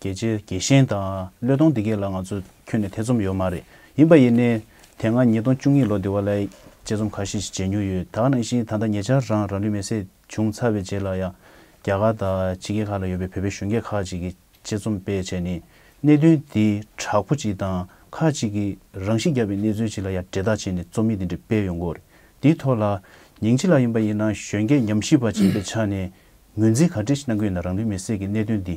རྒྱལ་གཅེས་རྒྱལ་གཤེན་དང་བློས་གཏོང་འདི་གས་ལ་ང་ཚོ་ཁྱོན་ནས་ཐེ་ཚོམ་ཡོད་མ་རེད་ཡིན་པ་ཡིན་ནའི། དེ་སྔ་ཉིས་སྟོང་བཅུ་གཉིས་ལོ་དེ་བ་ལའི་དཔྱད་རྩོམ་ཁ་ཤས་ཤིག་མཇལ་མྱོང་ཡོད་དག་ནང་བཞིན་ད་ལྟ་ཉེ་ཆར་རང་རང་ལུས་མེ་སྲེག་བྱུང་ཚར་བའི་རྗེས་ལ་ཡང་རྒྱ་གར་དང་ཕྱི་རྒྱལ་ཁག་ལ་ཡོད་པའི་བོད་པའི་གཞོན་སྐྱེས་ཁག་ཅིག་གིས་དཔྱད་རྩོམ་སྤེལ་བྱས་ནས་གནད་དོན་འདི་དྲག་པོ་ཅིག་དང་ཁག་ཅིག་གིས་རང་ཤི་བརྒྱབ་པའི་གནས་ཚུལ་ཅིག་ལ་ཡང་འབྲེལ་ཐག་བྱས་ནས་རྩོམ་ཡིག་འདི་འདྲ་སྤེལ་ཡོང་སྐོར་འདིའི་ཐོག་ལ། ཉིང་ཅི་ལ་ཡིན་པ་ཡིན་ན་གཞོན་སྐྱེས་ཉམས་ཞིབ་པ་ཅིག་ཡིན་པའི་ཆ་ནས་ངོས་འཛིན་ག་འདྲས་གནང་གི་ཡོད་ན་རང་ལུས་མེ་སྲེག་གི་གནད་དོན་འདི་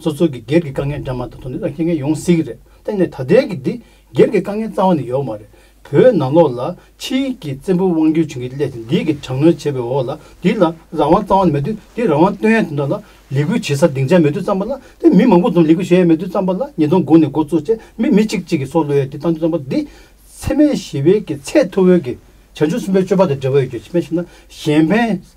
སོ་སོ་གི་སྒེར་གྱི་དཀའ་ངལ་འདྲ་མ་ད་དུང་ནི་ཨ་ཁྱི་ངས་ཡོང་སྲིད་ཀྱི་རེད་གཏན་ནས་ད་ལྟའི་གི་འདི་སྒེར་གྱི་དཀའ་ངལ་རྩ་བ་ནས་ཡོག་མ་རེད་བོད་ནང་ལོག་ལ་ཕྱི་ཡིག་གི་བཙན་པོ་དབང་སྒྱུར་བྱུང་གི་སླད་དེ་འདི་གི་དྲག་གནོན་བྱས་པའི་འོག་ལ་འདི་ལ་རང་དབང་རྩ་བ་ནས་མེད་དུས་འདི་རང་དབང་སྟོན་ཡ་དེ་འདྲ་ལ་ལས་འགུལ་བྱེད་ས་སྡིངས་ཆ་མེད་དུས་རྩམ་པ་ལ་དེ་མི་མང་པོ་ཙམ་ལས་འགུལ་བྱེད་ཡ་མེད་དུས་རྩམ་པ་ལ་ཉིས་སྟོང་དགུ་ནས་འགོ་བཙུགས་རྗེས་མི་མི་གཅིག་གཅིག་གི་སྲོག་བློས་ཡ་དེ་བཏང་དུས་རྩམ་པ་འདི་འཚེ་མེད་ཞི་བའི་གི་ཚད་མཐོ་བོའི་གི་བྱང་ཆུབ་སེམས་པའི་སྤྱོད་པ་དང་འབྲེལ་བ་ཡོད་རྒྱུ་ཕྱི་མ་ཞིག་ན་གཞན་ཕན།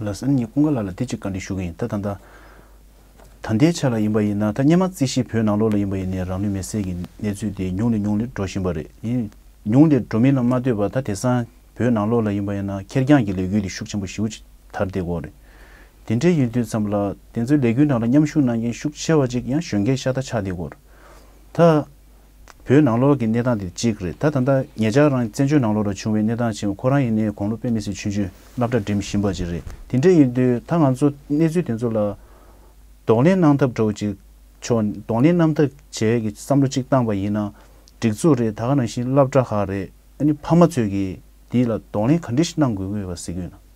ལགས། ཨ་ནི་ངས་ཀུན་དགའ་ལགས་ལ་དེ་ཅིག་བཀའ་འདྲི་ཞུ་གི་ཡིན་ད་ད་ད། ད་ལྟའི་ཆ་ལ་ཡིན་པ་ཡིན་ན་ད་སྙན་མ་རྩིས་གཞིས་བོད་ནང་ལོགས་ལ་ཡིན་པ་ཡིན་ནའི་རང་ལུས་མེ་བསྲེགས་ཀྱི་གནས་ཚུལ་དེ་ཉུང་ནས་ཉུང་ནས་འགྲོ་བཞིན་པ་རེད་ཡིན། ཉུང་ནས་འགྲོ་མིན་ལ་མ་ལྟོས་པར་ད་དེ་སང་བོད་ནང་ལོགས་ལ་ཡིན་པ་ཡིན་ན་ཁེར་རྐྱང་གི་ལས་འགུལ་དེ་ཤུགས་ཆེན་པོ་ཞིའུ་ཅིག་དར་བསྡད་དགོས་རེད། དེ་འདྲའི་ཡུན་དུས་ཙམ་ལ་དེ་ཚོའི་ལས་འགུལ་ནང་ལ་མཉམ་ཞུགས་གནང་མཁན་ཤུགས་ཆེ་བ་ཅིག་ཡང་གཞོན་སྐྱེས་ཤ་སྟག་ཆགས་བསྡད་དགོས་རེད། ད། བོད་ནང་ལོགས་ཀྱི་གནས་སྟངས་དེ་གཅིག་རེད་ད་ད་ལྟ་ངེད་ཅག་རང་བཙན་བྱོལ་ནང་ལོགས་ལ་བྱུང་བའི་གནས་སྟངས་ཆེན་མོ་ཁོ་རང་ཡིན་ནའི་དགོངས་བློ་དཔེ་མི་སྲིད་ཆུན་ཆུན་བསླབ་གྲྭ་འགྲིམ་བཞིན་པ་ཅིག་རེད་དེ་འདྲ་ཡིན་དུས་ད་ང་ཚོ་གནས་ཚུལ་དེ་ཚོ་ལ། གདོང་ལེན་གནང་ཐབས་གྲོགས་ཅིག་ཆོག་གདོང་ལེན་གནམ་ཐག་བྱས་ཀྱི་བསམ་བློ་གཅིག་བཏང་བ་ཡིན་ན་འགྲིག་ཚོད་རེད་ད་ག་རང་བཞིན་བསླབ་གྲྭ་ཧ་རེད་ཨ་ནི་ཕ་མ་ཚོས་ཀྱིས་འདི་ལ་གདོང་ལེན་ག་འདྲི་ཞིག་གནང་དགོས་ངོས་བ་སི་ཀུན།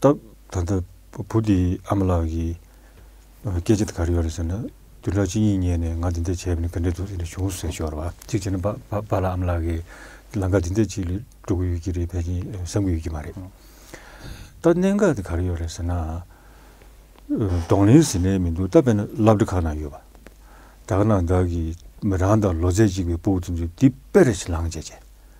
སྟབས། ད་ལྟ་བུ་དེའི་ཨ་མ་ལགས་ཀྱིས། སྐད་ཆ་དེ་ག་རེ་ཡོད་རེད་ཟེར་ན། དུད་འགྲོ་གཅིག་གཉིས་རྙེད་ནས་ང་འདི་འདྲ་བྱས་པ་ནི་ག་འདྲའི་དུག་རིགས་ལ་བྱུང་ཟེར་ཞོར་བ་གཅིག་བྱས་ན་པ་པ་ལགས་ཨ་མ་ལགས་ཀྱིས། ལང་ཀ་འདི་འདྲ་གཅིག་ལས་འགྲོ་གི་ཡོད་ཀྱི་རེད་བས་ཀྱིན་བསམ་གྱི་ཡོད་ཀྱི་མ་རེད། ད་གནད་འགག་དེ་ག་རེ་ཡོད་རེད་ཟེར་ན། གདོང་ལེན་ཟིན་ལེན་མི་འདུག་ད་བས་ན་བླ་བྲེ་ཁག་ན་ཡོད་པ། དག་ན་དག་གིས་རང་དང་ལོ་ཚད་གཅིག་པའི་སྤུ་བོ་དེ་ཚོས་འདི་དཔེ་རེད་ཟེར་ལང་བྱས་བྱས།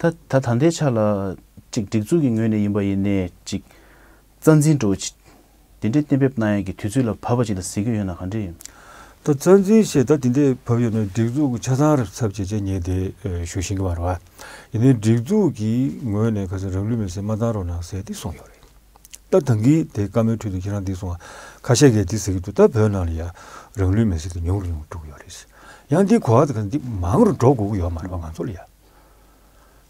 ད་ད་ལྟའི་ཆ་ལ། གཅིག་སྒྲིག་འཛུགས་ཀྱི་ངོས་ནས་ཡིན་པ་ཡིན་ནས་ཅིག། རྩ་འཛིན་འགྲོ། དེ་འདྲའི་གཏན་འབེབས་གནང་ཡག་གི་དུས་ཚོད་ལ་བབ་པ་ཅིག་ལ་ཟེར་གྱི་ཡོད་ན་ག་འདྲ་ཡིན། ད་རྩ་འཛིན་ཞེས་ད་དེ་འདྲའི་བབ་ཡོད་ན་སྒྲིག་འཛུགས་ཀྱི་ཆ་ཚང་རབ་ཚབ་བྱེད་ཆ་ཉེས་དེ་ཞུ་བཞིན་གི་མ་རེད་བ། ཡིན་ནའི་སྒྲིག་འཛུགས་ཀྱི་ངོས་ནས་ག་ཚོད་རང་ལུས་མེར་སྲེག་མ་བཏང་རོགས་གནང་ཟེར་ཏེ་གསུངས་ཡོད་རེད། ད་ད་གིས་དེ་བཀའ་མོལ་ཁྲོད་དུ་ཁྱེད་རང་འདི་གསུངས་ཁ་ཤས་ཀས་འདི་ཟེར་གྱི་འདུག་ད་བོད་ནང་ལ་ཡང་རང་ལུས་མེར་སྲེག་དེ་ཉུང་རུ་ཉུང་དཀྲུགས་ཡོད་རེད། ཡང་འདིའི་གོ་བ་དེ་ག་འདི་མང་རུ་འགྲོ་དགོས་ཀྱི་ཡོད་མ་རེད་བ་ང་ཚོ་ལ་ཡང།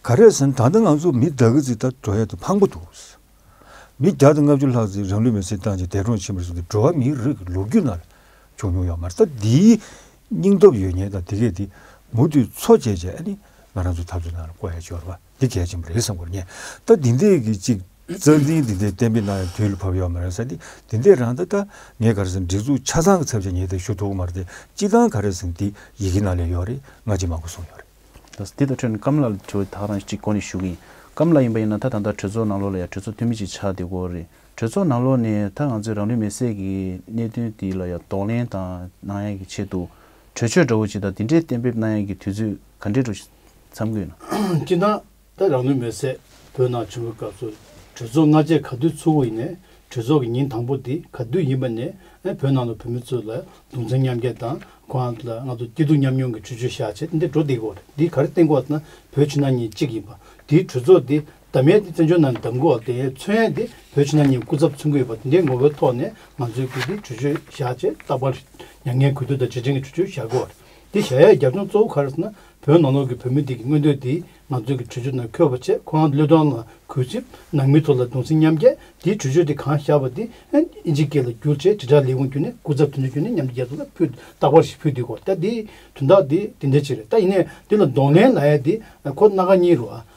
ག་རེད་ཟེར་ན་ད་ལྟ་ང་ཚོ་མི་བདག་གི་རྩིས་ལྟར་འགྲོ་ཡ་དེ་ཕངས་པོ་འདུག། མི་བརྒྱ་དང་ལྔ་བཅུ་ལྷག་རྩིས་རང་ལུས་མེར་བསྲེགས་བཏང་རྗེས་འདས་གྲོངས་ཕྱིན་པར་གསུངས་ཏེ་འགྲོ་བ་མིའི་རིགས་ཀྱི་ལོ་རྒྱུས་ནང་ལ་བྱུང་མྱོང་ཡོད་མ་རེད། ད་འདིའི་སྙིང་སྟོབས་ཡོད་ཉེན་དང་དེ་གས་དེ་མུ་མཐུད་འཚོ་བཅད་བྱས་ནས་ང་རང་ཚོའི་འཐབ་རྩོད་ནང་ལ་བསྐོ་ཡ་འབྱོར་བ་འདི་གལ་ཆེན་པོ་རེད་བསམ་དགོས་ཉེན། ད་འདི་འདས་ཀྱི་ཅིག་རྩ་འཛིན་འདི་འདས་གཏན་འབེབས་གནང་ཡ་དུས་ལ་བབ་ཡོད་མ་རེད་ཟེར་ཏེ་འདི་འདས་རང་ད་ད་ངས་ག་རེ་ཟེར་ན་སྒྲིག་འཛུགས་ཆ་ཚང་གི་ཚབ་བྱས་ཉེན་དེ་ཞུ་ཐུབ་གི་མ་རེད་དེ་སྤྱི་བཏང་ག་རེ་ཟེར་ན་འདི་ཡི་གེ་ནང་ལས་ཡོད་རེད་ང་ཅི་མང་པོ་གསུངས་ཡོད་རེད། འདི་ལྟར་ཁྲོད་ནས་སྐམ་ལ་ལ་དྲི་བ་དག་དང་གཅིག་གོ་ནས་ཞུ་གི་ཡིན། སྐམ་ལ་ཡིན་པ་ཡིན་ན་ད་ད་ལྟ་གྲོས་ཚོགས་ནང་ལོགས་ལ་ཡང་གྲོས་ཚོགས་འཐུས་མི་ཅིག་ཆགས་བསྡད་གོ་རེད། གྲོས་ཚོགས་ནང་ལོགས་ནས་ད་ང་ཚོས་རང་ལུས་མེ་བསྲེགས་ཀྱི་གནད་དོན་དེ་ལ་ཡང་དོགས་ལན་དང་གནང་ཡག་གི་ཆེད་དུ་གྲོས་ཆོད་འདྲ་བོ་ཅིག་དང་དེ་འདྲའི་གཏན་འབེབས་གནང་ཡག་གི་དུས་ཚོད་ག་འདྲས་འགྲོ་ཞིག་མཚམས་འཁོད་ན། སྤྱིར་བཏང་ད་རང་ནུས་མེད་ཟད་བོད་ནང་བྱུང་བའི་སྐབས་སུ་གྲོས་ཚོགས་སྔ་རྗེས་ག་དུས་ཚུགས་འོག་ཡིན་ནས་གྲོས་ཚོགས་ཀྱི་ཉིན་དང་པོ་དེ་ག་དུས་ཡིན་པ་ནས་བོད་ནང་དུ་བོད་མི་ཚོས་ལ་གདུང་མཚམས་མཉམ་བསྐྱེད་དང་ཁོང་ལ་ང་ཚོ་སྐྱིད་སྡུག་མཉམ་མྱོང་གི་ཆོས་ཆོས་བཞག་བྱས་ཏེ་འདི་འགྲོ་བདེ་གི་འོག་ཏུ་འདི་ག་རེ་བརྟེན་དགོས་བ་ན་བོད་ཕྱི་ནང་གཉིས་གཅིག་ཡིན་པ་དེའི་གྲོས་ཚོགས་དེ་གདམ་ཡས་དེ་བཙན་བྱོལ་ནང་གདམ་དགོས་བ་དེ་མཚོན་ཡས་དེ་བོད་ཕྱི་ནང་གཉིས་སྐུ་ཚབ་མཚོན་གི་ཡོད་པ་དེའི་ངོ་བོའི་ཐོག་ནས་ང་ཚོའི་གུས་བདེའི་གྲོས་ཆོས་བཞག་བྱས་རྟག་པར་མྱ་ངན་གུས་འདུད་དང་རྗེས་དྲན་གྱི་གྲོས་ཆོས་བཞག་དགོས་བ་དེ་བཞག་ཡས་རྒྱབ་ལྗོངས་གཙོ་བོ་ག་རེ་ཟེར་ན་བོད་ནང་ལོགས་ཀྱི་བོད་མི་དེ་གི་མངོན་འདོད་དེ་ང་ཚོ་གི་གྲོས་ཆོད་ནང་འཁོད་པ་ཆེད་ཁོ་རང་བློས་བཏང་ལ་གུས་ཚིག་ནང་མི་ཚོ་ལ་གདུང་སེམས་མཉམ་སྐྱེད་དེ་གྲོས་ཆོད་དེ་གང་བཞག་པ་དེ་ཨིན་ཇི་སྐད་ལ་བསྒྱུར་ཆེད་དྲིལ་བསྒྲགས་ལས་ཁུངས་བརྒྱུད་ནས་སྐུ་ཚབ་དེ་ཚོ་བརྒྱུད་ནས་མཉམ་འབྲེལ་རྒྱལ་ཚོགས་ལ་ཕུལ་རྟག་པར་ཞིག་ཕུལ་དུས་གོ་བརྡ་དེ་དོན་དག་དེ་དེ་འདྲ་ཅིག་རེད་ད་ཡིན་ནས་དེ་ལ་གདོང་ལེན་ལ་ཡ་དེ་ཁོ་སྣ་ག་གཉིས་རུ་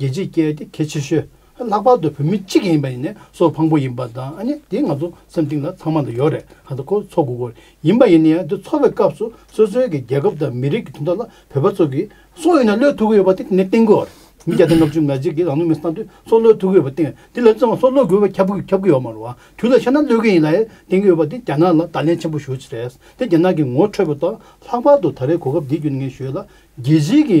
རྒྱལ་སྤྱིའི་སྐད་དེ་གལ་ཆེ་ཤོས། ལྷག་པར་དུ་བོད་མི་སྤྱི་ཡིན་པ་ཡིན་ནས་སོ་ཕངས་པོ་ཡིན་པ་དང་ནི་དེ་ང་ཚོ་སེམས་གཏིང་ལ་ཚང་མ་དུ་ཡོད་རེད་ད་ལྟ་ཁོ་ཚོ་འགོ་སྐོར་ཡིན་པ་ཡིན་ན་ཡང་དེ་ཚོར་བའི་སྐབས་སུ་སོ་སོའི་གི་རྒྱལ་ཁབ་དང་མི་རིགས་ཀྱི་དོན་དག་ལ་བོད་པ་ཚོ་གི་སོ་ཡོད་ན་བློས་ཐུག་གི་ཡོད་པ་དེ་ནི་བསྟན་དགོས་རེད་མི་བརྒྱ་དང་ལྔ་བཅུ་ང་གཅིག་གི་རང་ནུས་མི་སྣང་དུས་སོ་བློས་ཐུག་གི་ཡོད་པ་བསྟན་དེ་ལས་བརྩེ་བ་སོ་བློས་དགོས་པ་ཁྱབ་ཁྱབ་གི་ཡོད་མ་རུང་བ་དུས་ལ་ཤར་ན་བློས་གི་ཡིན་ལ་ཡང་བསྟན་གི་ཡོད་པ་དེ་རྒྱ་ནག་ལ་བརྡ་ལན་ཆེན་པོ་ཞུ་ཆེ་རེད་དེ་རྒྱ་ནག་གི་ངོ་འཕྲོད་པོ་དང་ལྷག་པར་དུ་ད་རེས་གོ་སྐབས་འདི་བརྒྱུད་ནས་ངས་ཞུས་ལ་རྒྱལ་སྤྱིའི་གི་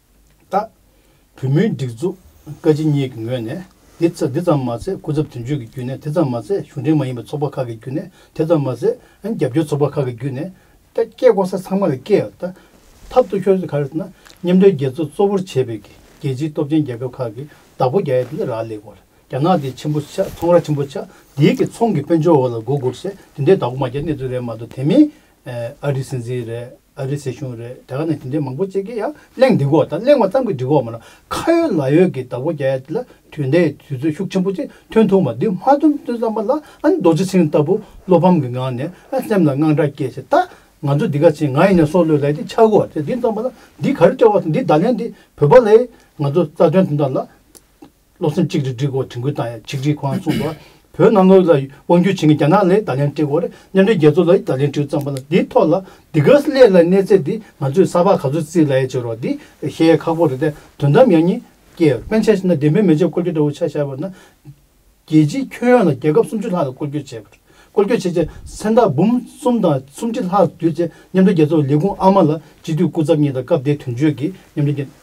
བཏགས། བུ་མོའི་སྒྲིག་འཛུགས་བཀའ་སྤྱི་གཉིས་ཀྱི་ངོས་ནས་འདི་ཙམ་མ་ཟད་སྐུ་ཚབ་དོན་གཅོད་ཀྱི་བརྒྱུད་ནས་དེ་ཙམ་མ་ཟད་གཞུང་འབྲེལ་མ་ཡིན་པའི་ཚོགས་པ་ཁག་གི་བརྒྱུད་ནས་དེ་ཙམ་མ་ཟད་རྒྱབ་སྐྱོར་ཚོགས་པ་ཁག་གི་བརྒྱུད་ནས། སྐད་བསྐོར་ས་ཚང་མ་ལ་སྐད་ད་ཐབས་སྟུག་ཤོར་ག་རེ་ཟེར་ན་མཉམ་འབྲེལ་རྒྱལ་ཚོགས་གཙོ་བོར་བྱས་པའི་རྒྱལ་སྤྱིའི་སྟོབས་ཆེན་རྒྱལ་ཁབ་ཁག་གི་བདག་པོ་རྒྱ་ཡིས་འདི་འདྲ་རག་ལས་གོ་རྒྱ་ནག་འདི་ཆེན་པོ་ཆགས་ཚོང་ར་ཆེན་པོ་ཆགས་འདིའི་གི་ཚོང་གི་དཔལ་འབྱོར་འོག་ལ་མགོ་སྒུར་ཟེར་འདི་འདྲའི་བདག་པོ་མ་རྒྱ་གནས་ཚུལ་རེད་མ་གཏོགས་དེ་མིན་ཨ་རིའི་སྲིད་འཛིན་རེད་ཨ་རིའི་སྲིད་གཞུང་རེད་དེ་ག་ནས་དེ་འདྲའི་མང་པོ་བརྩེགས་ཀྱི་ཡ་གླེང་འདི་གོ་ད་གླེང་བ་ཙམ་གྱི་འགྲིག་གོ་མ་ན་ཁ་ཡོད་ལག་ཡོད་ཀྱི་དྭགས་པོ་རྒྱ་ཡ་དེ་ལ་དུས་འདའི་དུས་ཚོད་ཤུགས་ཆེན་པོ་ཅིག་ཐོན་ཐུབ་མ་འདུག་མ་ཐོན་ཐོན་བསམ་པ་ལ་ཨ་ནི་རྡོ་རྗེ་ཚེ་རིང་ལྟ་བུ་བློ་ཕམ་གྱི་ངང་ནས་ཨ་སེམས་ལ་དངངས་སྐྲག་སྐྱེས་ཚེ་ད་ང་ཚོ་འདི་ག་ཚེ་ང་ཡིན་ན་སྲོག་བློས་ལས་དེ་ཆགས་གོ་ཚེ་འདི་བསམ་པ་ལ་འདི་ག་རེ་སྤྲད་བ་དང་འདི་བརྡ་ལན་འདི་བོད་པ་ལས་ང་ཚོ་རྩ་དོན་དེ་འདྲ་ལ་སློབ་ཚན་གཅིག་སྒྲིལ་སྒྲིག་སྐོར་དྲན་སྐུལ་དང་ཡང་གཅིག་སྒྲིལ་གོ་རམ་གསུངས་པ། བོད་ནང་དངུལ་ལ་དབང་སྒྱུར་བྱེད་མཁན་རྒྱ་ནག་ལས་ད་ལན་སྒྲིག་སྐོར་མཉམ་འབྲེལ་རྒྱལ་ཚོགས་ལས་ད་ལན་སྒྲིག་བརྩམས་པ་ལ་འདིའི་ཐོག་ལ་འདི་ག་ལས་ལ་གནས་ཚད་འདི་ང་ཚོས་གསར་པ་ག་ཚོད་བརྩིས་ལ་ཡ་བྱེད་རོགས་འདི་བཤད་ཡ་ཁག་པོ་རེད་དེ་དོན་དམ་ཡང་ཉིན་རྒྱལ་དཔོན་ཆེ་ན་བདེན་དཔོན་མི་ཆེ་བསྐོར་རྒྱུ་འདྲ་བོ་ཆགས་བཞག་པ་ན། རྒྱལ་སྤྱིའི་ཁྱོན་ཡོངས་ལ་རྒྱལ་ཁབ་སུམ་ཅུ་ལྷག་ལ་བསྐོར་རྒྱུ་བྱེད་བསྐོར་རྒྱུ་བྱེད་ཆེད་མཚན་རྟགས་འབུམ་གསུམ་དང་སུམ་ཁྲི་ལྷག་བསྡུས་ཚེ་མཉམ་འབྲེལ་རྒྱལ་ཚོགས་ལས་ཁུངས་ཨ་མ་ལ་སྤྱི་འཐུས་སྐུ་ཚབ་གཉིས་དང་སྐབས་དེའི་དོན་གཅོད་ཀྱི་མཉམ་འབྲེལ་རྒྱལ།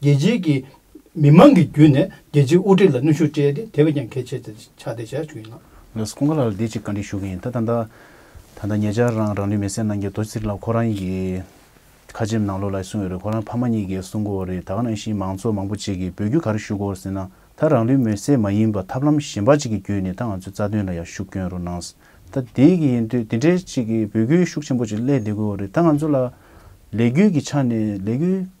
རྒྱལ་སྤྱིའི་གི་མི་མང་གི་བརྒྱུད་ནས་རྒྱལ་སྤྱིའི་དབུ་ཁྲིད་ལ་གནོན་ཤུགས་སྤྲད་དེ་དེ་བས་ཀྱང་གལ་ཆེ་ཆགས་ཏེ་བྱ་ཞིག་བྱུང་ཡིན་ལགས། ལགས་སོ་ཁོང་ག་ལ་ལ་དེ་ཅིག་བཀའ་འདྲི་ཞུ་གི་ཡིན་ད་ད་ད། ད་ད་ངེད་ཅག་རང་རང་ལུས་མེ་སྲེག་གནང་རྒྱུ་དོ་ཚིག་ལ་ཁོ་རང་གི། ཁ་ཆེམས་ནང་ལོག་ལ་གསུངས་ཡོད་རེད་ཁོ་རང་ཕ་མ་གཉིས་ཀས་གསུངས་གོ་རེད་ད་ག་ནང་བཞིན་མང་ཚོགས་མང་པོ་གཅིག་གིས་འབོད་རྒྱུ་ག་རེ་ཞུ་གོ་ཟེར་ན་ད་རང་ལུས་མེ་སྲེག་མ་ཡིན་པ་ཐབས་ལམ་གཞན་པ་ཅིག་གི་བརྒྱུད་ནས་ད་ང་ཚོའི་རྩ་དོན་ལ་ཡང་ཤུགས་བསྐྱོན་རོགས་གནང། ད་དེ་གི་ཡིན་དུས་དེ་འདྲའི་ཅིག་གི་འབོད་སྐུལ་ཤུགས་ཆེན་པོ་ཅིག་སླད་བསྡད་དགོས་རེད་ད་ང་ཚོ་ལ། ལས་རྒྱུས་ཀྱི་ཆ་ནས་ལས་རྒྱུས།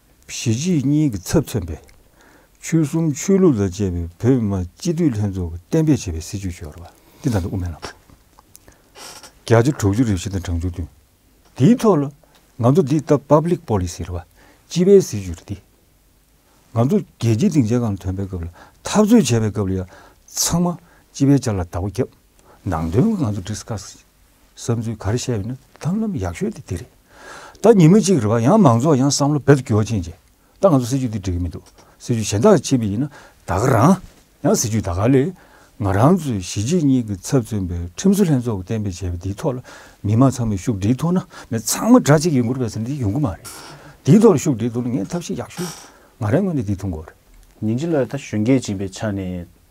གཞིས་བྱེས་གཉིས་ཀྱི་ཚབ་མཚོན་པའི། ཆོལ་གསུམ་ཆོས་ལུགས་དང་བཅས་པའི་བོད་མི་མང་སྤྱི་འཐུས་ལྷན་ཚོགས་ཀྱིས་གཏན་འབེབས་བྱས་པའི་སྲིད་བྱུས་སྦྱོར་བ། དེ་དང་དུ་དབུ་མའི་ལམ་ཁྲིད། བརྒྱ་ཆ་དྲུག་ཅུ་རེ་བཞི་དང་གྲངས་བཅུ་བདུན། དེའི་ཐོག་ལ། ང་ཚོ་འདི་ལྟ Public Policy རེད་པ། སྤྱི་པའི་སྲིད་བྱུས་རེད་འདི། ང་ཚོ་རྒྱལ་སྤྱིའི་སྡིངས་ཆའི་སྒང་ལ་ཐོན་པའི་སྐབས་ལ་འཐབ་རྩོད་བྱས་པའི་སྐབས་ལ་ཡང་ཚང་མ་སྤྱི་པའི་ཆ་ལ་བདག་པོ་བརྒྱབ། ནང་དོན་ང་ཚོ Discuss། བསམ་ཚུལ་ག་རེ་བཤད་ཡོད་ན་ཐབས་ལམ་ཡག་ཤོས་དེ་དེ་རེད། ད་ཉིན་མོ་གཅིག་རེད་པ་ཡང་མང་ཚོགས་ཡང་བསམ་བློ་འབད་དུ་འགྱོ་ཕྱིན་རྗེས་ད་ང་ཚོ་སྲིད་ཇུས་འདི་འགྲིག་གི་མི་འདུག་སྲིད་ཇུས་གཞན་དག་ཕྱིན་པ་ཡིན་ན་ད་ག་རང་ཡང་སྲིད་ཇུས་ད་ག་ལས་ང་རང་ཚོས་གཞིས་བྱེས་གཉིས་ཀྱི་ཚབ་མཚོན་པའི་ཁྲིམས་བཟོ་ལྷན་ཚོགས་ཀྱི་གཏན་འབེབས་བྱས་པ་འདིའི་ཐོག་ལ་མི་མང་ཚང་མས་ཤུགས་སྒྲིལ་ཐུབ་ན་མི་ཚང་མ་དགྲ་གཅིག་ཡིན་དགོས་རེད་བསམ་འདི་ཡོང་གི་མ་རེད། འདིའི་ཐོག་ལ་ཤུགས་སྒྲིལ་ཐུབ་ན་ངས་ཐབས་ཤེས་ཡག་ཤོས་ང་རང་ངོས་ནས་འདི་ཐུགས་མགོ་རེད། ཉིན་གཅིག་ལ་ད་གཞོན་སྐྱེས་སྦྱིན་པའི་ཆ་ནས་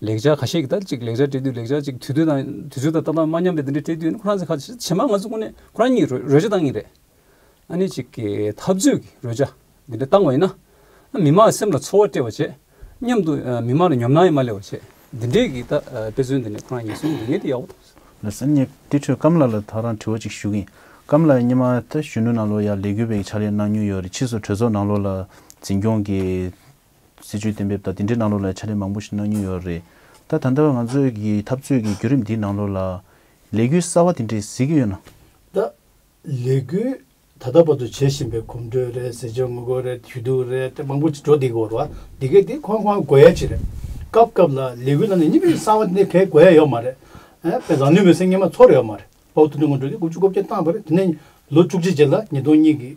ལེགས་སྦྱར་ཁ་ཤས་ཀྱི་ལྟར་གཅིག་ལེགས་སྦྱར་སྤྲད་དུས་ལེགས་སྦྱར་གཅིག་དུས་ཚོད་དང་དུས་ཚོད་དང་ལྟ་སྟངས་མ་མཉམ་པའི་དེ་འདྲའི་སྤྲད་དུས་ཁོ་རང་ཚོས་ཁ་ཇེ་མང་ང་ཚོ་ཀུན་ནས་ཁོ་རང་གཉིས་རོལ་ཆ་བཏང་ངེས་རེད། ཨ་ནི་གཅིག་གི་འཐབ་རྩོད་ཀྱི་རོལ་ཆ་འདི་འདྲ་བཏང་བ་ཡིན་ན། མི་མང་སེམས་ལ་ཚོར་བ་སྤྲད་པ་བྱེད། མཉམ་དུ་མི་མང་ལ་ཉོབ་སྣང་ཡང་མ་སླེབས་པ་བྱེད། འདི་འདྲའི་གི་དཔེ་མཚོན་འདི་ནས་ཁོ་རང་ཉིད་སུ་ཡིན་ངེས་དེ་ཡག་པོ་མཐོང་སོང། ལ་སེམས་ཉེ། དེ་འཕྲོས་སྐམ་ལགས་ལ་ཐག་རང་དྲི་བ་གཅིག་ཞུ་གི་ཡིན། སྐམ་ལགས་གཉིས་མ་ད་གཞོན་ནུ་ནང་ལོགས་ཡར་ལས་འགུལ་བའི་ཕྱག་ལས་གནང་མྱོང་ཡོད་རེད་ཕྱིས་སུ་གྲོས་ཚོགས་ནང་ལོགས་ལ་འཛིན་སྐྱོང་གི། སྲིད་ཇུས་གཏན་འབེབས་དང་དེ་འབྲེལ་གནང་ལུགས་ལ་ཕྱག་ལས་མང་པོ་ཞིག་གནང་མྱོང་ཡོད་རེད་ད། ད་ལྟ་བའི་ང་ཚོས་ཀྱི་འཐབ་རྩོད་ཀྱི་བརྒྱུད་རིམ་འདིའི་ནང་ལོགས་ལ། ལས་འགུལ་གསར་བ་དེ་འདྲས་གཟིགས་ཀྱི་ཡོད་ན། ད། ལས་འགུལ་ད་ལྟ་བར་དུ་བྱེད་བཞིན་པའི་གོམ་བགྲོད་རེད་ཟས་སྤྱོད་ངོ་རྒོལ་རེད་ཞུ་གཏུག་རེད་དེ་མང་པོ་ཞིག་འགྲོ་འདི་གོ་ར་འདི་གས་འདི་ཁོ་ཁོའང་དགོས་ཡ་ཅིག་རེད། སྐབས་སྐབས་ལ་ལས་འགུལ་ནང་ནས་གཉིས་པའི་གསང་བ་འདི་གས་དགོས་ཡ་ཡོད་མ་རེད། པའི་བཟང་ནུས་མེད་སེམས་ངན་མ་ཚོར་ཡོད་མ་རེད། བོགས་འདོན་ངོ་འགྲོ་འདི་དགུ་བཅུ་གོ་བརྒྱད་བཏང་བ་རེད་དེ་ནས་ལོ་བཅུ་གཅིག་རྗེས་ལ་ཉིས་སྟོང་གཉིས་ཀྱི།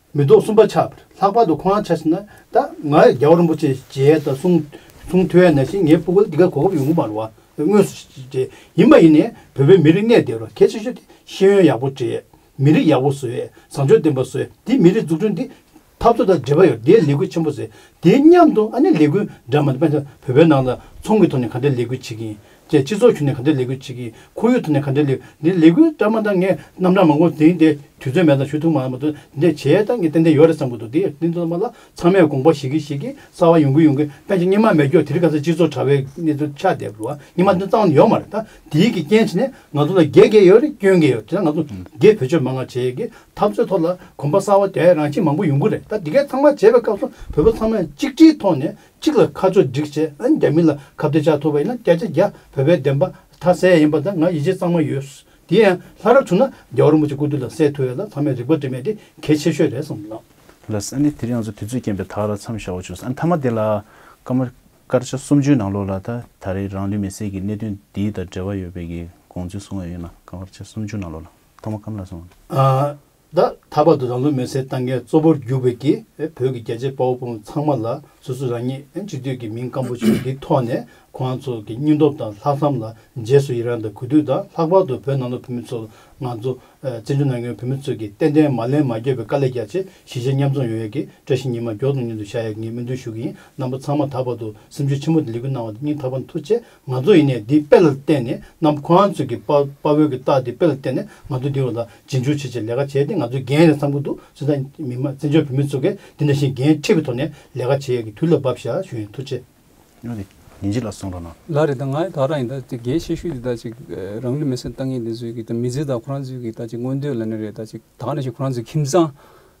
མེ་ཏོག་གསུམ་པ་ཆགས་པར་ལྷག་པར་དུ་ཁོང་རང་ཆགས་ཤིང་ན་ད་ང་རྒྱལ་བ་རིན་པོ་ཆེ་ཞེས་དང་གསུང་གསུང་ཐོས་ཡ་ན་ཞིག་ངའི་སྤུ་གུ་ལ་འདི་གར་གོ་སྐབས་ཡོང་གི་མ་རུང་བ་དངོས་སུ་བྱས་ཡིན་མ་ཡིན་ནས་བོད་པའི་མི་རིགས་གནས་བདེ་རུ་གལ་ཆེ་ཤོས་དེ་ཤེས་ཡོན་ཡག་པོ་བྲིས་མི་རིགས་ཡག་པོ་བཟོས་བཟང་སྤྱོད་ལྡན་པ་བཟོས་དེ་མི་རིགས་འཛུགས་སྐྲུན་དེ་འཐབ་རྩོད་དང་འབྲེལ་བ་ཡོད་དེའི་ལས་འགུལ་ཆེན་པོ་བཟོས་དེའི་མཉམ་དུ་ཨ་ནི་ལས་འགུལ་འདྲ་མ་འདི་དཔེ་ཆ་བོད་པའི་ནང་ལ་ཚོང་གི་ཐོག་ནས་ག་འདྲའི་ལས་འགུལ་བྱེད་ཀྱིན་ཀྱི་སྤྱི་ཚོགས་ཁྱོན་ནས་ག་འདྲའི་ལས་འགུལ་བྱེད་ཀྱི་ཁོར་ཡུག་ཐོག་ནས་ག་འདྲའི་ལས་འདི་ལས་འགུལ་སྤྲ་མ་འདང་ངས་རྣམ་གྲངས་མང་པོ་འདིང་སྟེ་དུས་ཚོད་མེད་ཙང་ཞུ་ཐུབ་མ་མ་ཐུབ་འདི་བྱས་ད་ངས་ཏན་ཏན་ཡོད་རེད་བསམ་གི་འདུག་འདིའི་འདི་ཚང་མ་ལ་ཚང་མས་དགོངས་པ་བཞེས་གིན་བཞེས་གིན་གསར་བ་ཡོང་གིན་ཡོང་གིན་པན་ཆེན་སྙིང་མ་མེད་སྐྱོ་དེ་རིང་ག་ཚད་སྤྱི་ཚོགས་དྲ་བའི་གནས་ཚུལ་ཆགས་བསྡད་འདུག་སྙིང་མ་འདི་གཙང་བ་ཡོད་མ་རེད་ད་འདིའི་གི་རྐྱེན་བྱས་ནས་ང་ཚོ་ལ་རྒྱལ་རྒྱལ་ཡོད་རེད་སྐྱོན་གྱི་ཡོད་རེད་དེ་ན་ང་ཚོ་རྒྱལ་བོད་ཆོས་མང་ང་བྱས་གི་འཐབ་རྩོད་ཐོག་ལ་གོམ་པ་གསར་བ་དེ་རང་བཞིན་མང་པོ་ཡོང་གི་རེད་ད་འདི་གས་ཚང་མ་བྱས་པའི་སྐབས་སུ་བོད་པ་ཚང་མས་གཅིག་སྒྲིལ་ཐོག་ནས་གཅིག་ལ་ཁ་ཕྱོགས་སྒྲིག་བྱེད་ཨ་རྒྱ་མི་ལ་ཁ་བརྡའི་ལྕགས་ཐོབ་པ་ཡིན་ན་སྐད་ཆ་རྒྱ་བོད་པའི་བདེན་པ་དག་གསལ་ཡིན་པ་དང་ང་ཡིད་ཆེས་གཙང་མ་ཡོད། དེ་ཡང་ལྷ་རབ་བྱུང་ན་རྒྱ་རོན་པོ་ཆེ་སྐུ་དུས་ལ་གསལ་ཐུབ་ཡོད་ལ་ཚང་མས་རིག་པ་འདྲེས་མེད་དེ་གལ་ཆེ་ཤོས་རེད་བསམ་ལགས། ལགས། ཨ་ནི་དེ་རིང་ང་ཚོ་དུས་ཚོད་རྐྱེན་པས་དག་ལ་མཚམས་བཞག་འོ་ཆོག་ཨ་ནི་མཐའ་མ་དེ་ལ། སྐར་མ། སྐར་ཆ་སུམ་ཅུའི་ནང་ལོགས་ལ་ད་ད་རེས་རང་ལུས་མེ་བསྲེགས་ཀྱི་གནད་དོན་འདི་དང་འབྲེལ་བ་ཡོད་པའི་གི་དགོངས་ཚུལ་གསུང་ཡ་ཡོད་ན་སྐར་ཆ་སུམ་ཅུ་ནང་ལོགས་ལ་ཐོག་མ་སྐམ་ལ་སོང། ད་ད་བར་དུ་རང་ལུས་མེར་སྲེག་བཏང་མཁན་གཙོ་བོར་གྱུར་པའི་གི་བོད་ཀྱི་རྒྱལ་གཅེས་དཔའ་བོ་དཔའ་མོ་ཚང་མ་ལ་སོ་སོ་རང་ཉིད་གཅིག་སྡུད་ཀྱི་མིང་སྐམ་པོ་ཆེ་འདི་ཐོག་ནས་ཁོང་རང་ཚོ་གི་སྙིང་སྟོབས་དང་ལྷག་བསམ་ལ་རྗེས་སུ་ཡི་རང་དང་གུས་འདུད་དང་ལྷག་པར་དུ་བོད་ནང་ལོག་བོད་མི་ཚོ་ལ་ང་ཚོ་བཙན་བྱོལ་ནང་ཡོད་བོད་མི་ཚོ་གི་ཏན་ཏན་མ་ལན་མ་འགྱོད་པའི་དཀའ་ལས་རྒྱག་ཆེད་གཞིས་བྱེས་མཉམ་འཛོམས་ཡོང་ཡག་གི་བཀྲ་ཤིས་ཉི་མ་མགྱོགས་དང་མཉམ་དུ་ཤར་ཡག་གི་ངས་སྨོན་འདུན་ཞུ་གི་ཡིན་རྣམ་པ་ཚང་མ་ད་བར་དུ་སེམས་ཆུ་ཆེན་པོ་དང་ལེགས་སྐུལ་གནང་བ་དང་སྙིང་ཐག་པ་མཐུ་ཆེ་ང་ཚོ་ཡིན་ནས་འདི་དཔེ་ལ་བལྟས་ནས་ནམ་ཁོ་རང་ཚོས་ཀྱི་དཔའ་བོའི་ཀྱི་རྟགས་འདི་དཔེ་ལ་བལྟས་ནས་ང་ཚོ་འདི་རུ་ལ་རྗེས་འཇུག་བྱེད་ཆེད་ལས་ཀ་བྱས་ཏེ་ང་ཚོའི་འགན་རེད་བསམ་གྱི་འདུག་ཚོད་ལྟ་མི་མ་བཙན་བྱོལ་བོད་མི་ཚོ་གས་འདི་འདྲ་བཞིན་འགན་འཁྲི་བའི་ཐོག་ནས་ལས་ཀ་བྱེད་ཡས་ཀྱི་དུས་ལ་བབས་ཤག་ཞུ་ཡིན་ཐུགས་ཆེ། ཉོ་དེ། ཉིན་གཅིག་ལ་སོང་འགྲོ་ན། ལ་རེད་ད་ང་ཡི་དྭགས་རང་ཡིན་ད་ཅིག་རྒྱའི་ཤེད་ཤུགས་དེ་ད་ཅིག་རང་ལུས་མེ་སྲེག་བཏང་ངེས་དེ་ཚོའི་ཀྱི་ད་མི་ཚེ་ད་ཁོ་རང་ཚོའི་ཀྱི་ད་ཅིག་མངོན་འདོད་ལ་ནི་རེད་ད་ཅིག་དྭགས་ནི་ཞིག་ཁོ་རང་ཚོའི་ཁྱིམ་ཚང་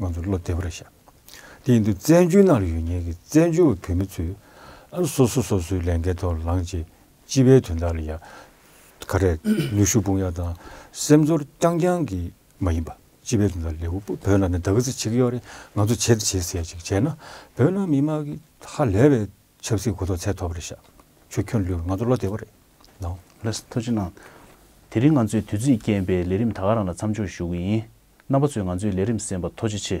ང་ཚོ་བློ་བདེ་བར་བཞག། དེ་ཡིན་དུས་བཙན་བྱོལ་ནང་ལ་ཡོད་ཉེན་གྱི་བཙན་བྱོལ་བ་བོད་མི་ཚོས་ཨ་སོ་སོ་སོ་སོའི་ལས་འགན་ཐོག་ལངས་རྗེས་སྤྱི་པའི་དོན་དག་ལ་ཡང་ཁ་རས་ནུས་ཤུགས་སྤུངས་ཡག་དང་སེམས་ཚོར་རྐྱང་རྐྱང་གིས་མ་ཡིན་པ་སྤྱི་པའི་དོན་དག་ལེའུ་པོ་བོད་ནང་ནས་འདག་རྩི་བྱེད་ཀྱི་ཡོད་རེད་ང་ཚོ་བྱེད་དེ་བྱེད་ཟེར་ཅིག་བྱས་ན་བོད་ནང་མི་དམངས་ཀྱི་ཧ་ལས་པའི་ཆབ་སྲིད་གོ་རྟོགས་ཚད་མཐོ་བར་བཞག་ཆོས་ཁྱོད་ལུས་ང་ཚོ་བློ་བདེ་བ་རེད་ནང། ལས་སུ་ཐོ་ཅི་གནང། དེ་རིང་ང་ཚོས་དུས་ཚིགས་རྐྱེན་པས་ལས་རིམ་ད་ག་རང་ལ་མཚམས་འཇོག་ཞུ་གི་ཡིན། རྣམ་པ་ཚོས་ང་ཚོའི་ལས་རིམ་གསན་པ་ཐོ་ཅི་ཆེ།